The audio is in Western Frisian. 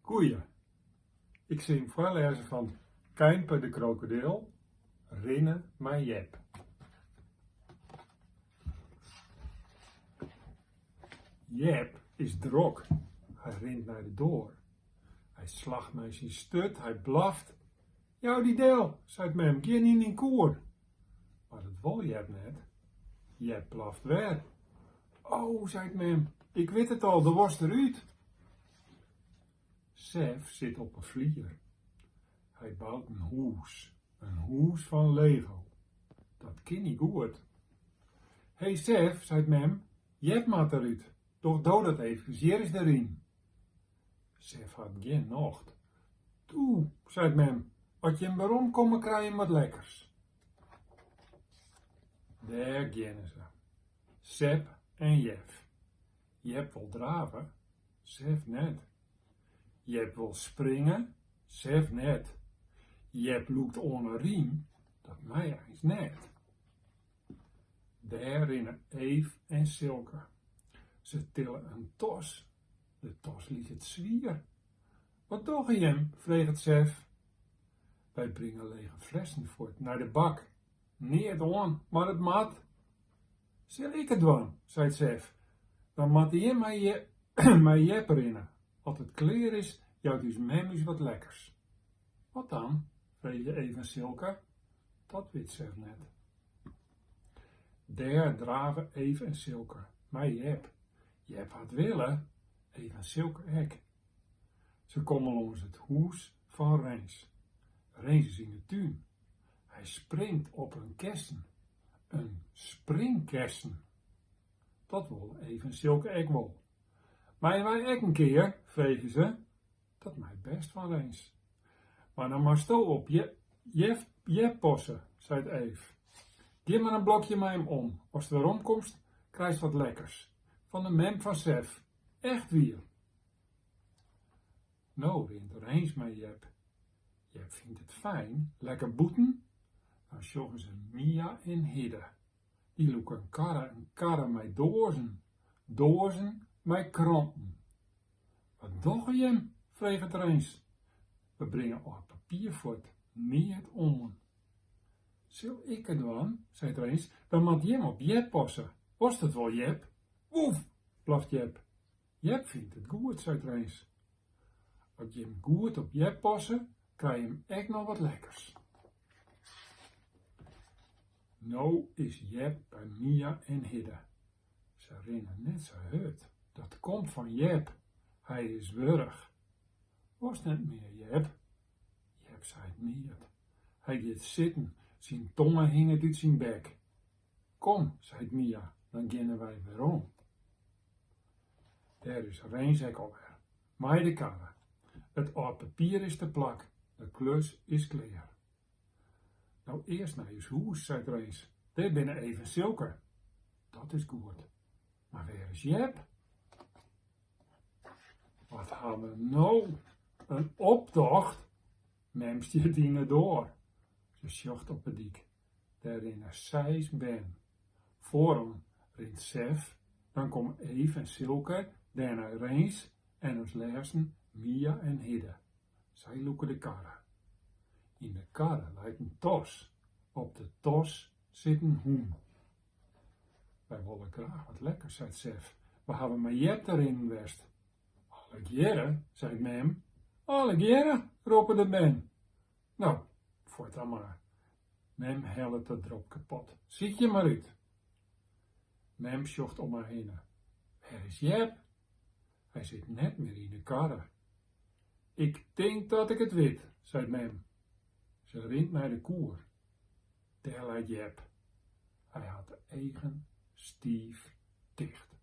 Goeie! Ik sil jim foarlêze fan Keimpe de krokodil, Rinne mei Jep. Jep is drok, hy rint nei de doar. Hy slacht mei syn sturt, hy blaft. Jou dy del, seit mem, gean yn dyn koer. Mar dat wol Jep net, Jep blaft wer. O, seit mem, ik wit it al, do wolst der út! Sef sit op 'e flier. Hy bout in hûs, in hûs fan lego. Dat kin hy goed. He, Sef, seit mem, Jep moat derút, doch do dat efkes, hjir is de riem. Sef hat gjin nocht. Toe, seit mem, as jim weromkomme krije jim wat lekkers. Dêr geane se. Sep en Jef. Jep wol drave, Sef net. Jep wol springe, Sef net. Jep lûkt oan 'e riem, dat mei eins net. Dêr rinne Eef en Silke. Se tille in tas. De tas liket swier. Wat dogge jim? freget Sef. Wy bringe lege flessen fuort nei de bak. Neat oan, mar it moat. Sil ik it dwaan, seit Sef. Dan moatte jim mei Jep rinne. As it klear is, jout ús mem ús wat lekkers. Wat dan? freegje Eef en Silke. Dat wit Sef net. Dêr drave Eef en Silke mei Jep. Jep hat wille, Eef en Silke ek. Se komme lâns it hûs fan Rins. Rins is yn de tún. Hy springt op in kessen. In springkessen! Dat wolle Eef en Silke ek wol. Meie wy ek in kear? freegje se. Dat mei bêst fan Rins. Mar dan moatsto op Jep passe, seit Eef. Gean mar in blokje mei him om. Ast weromkomst, krijst wat lekkers. Fan de mem fan Sef. Echt wier! No rint Rins mei Jep. Jep fynt it fijn, lekker bûten. Dan sjogge se Mia en Hidde. Dy lûke in karre, in karre mei doazen, doazen mei kranten. Wat dogge jim? freget Rins. We bringe âld papier fuort, neat oan. Sil ik it dwaan? seit Rins, dan moat jim op Jep passe. Wolst it wol, Jep? Woef! blaft Jep. Jep fynt it goed, seit Rens. As jim goed op Jep passe, krij jim ek noch wat lekkers. No is Jep by Mia en Hidde. Se rinne net sa hurd. Dat komt fan Jep. Hy is wurch. Wolst net mear, Jep? Jep seit neat. Hy giet sitten. Syn tonge hinget út syn bek. Kom, seit Mia, dan geane wy werom. Dêr is Rens ek alwer mei de karre. It âld papier is teplak, de klus is klear. No earst nei ús hûs, seit Rens, dêr binne Eve en Silke. Dat is goed. Mar wêr is Jep? Wat ha we no? In optocht? Mem stiet yn de doar. Ze sjocht op de dyk. Dêr rinne seis bern. Foarom rint Sef, dan komme Eve en Silke, dêrnei Rens en as lêsten Mia en Hidde. Sy lûke de karre. Yn de karre leit in tas. Op de tas sit in hûn. Wy wolle graach wat lekkers, seit Sef. Wy hawwe mei Jep te rinnen west. Allegearre, seit Mem. Allegearre, roppe de bern. Nou, fuort dan mar. Mem hellet de dropkepot. Sykje mar út. Mem sjocht om har hinne. Wêr is Jep? Hy sit net mear yn 'e karre. Ik tink dat ik it wit, seit mem. Se rint nei de koer. Dêr leit Jep. Hy hat de eagen stiif ticht.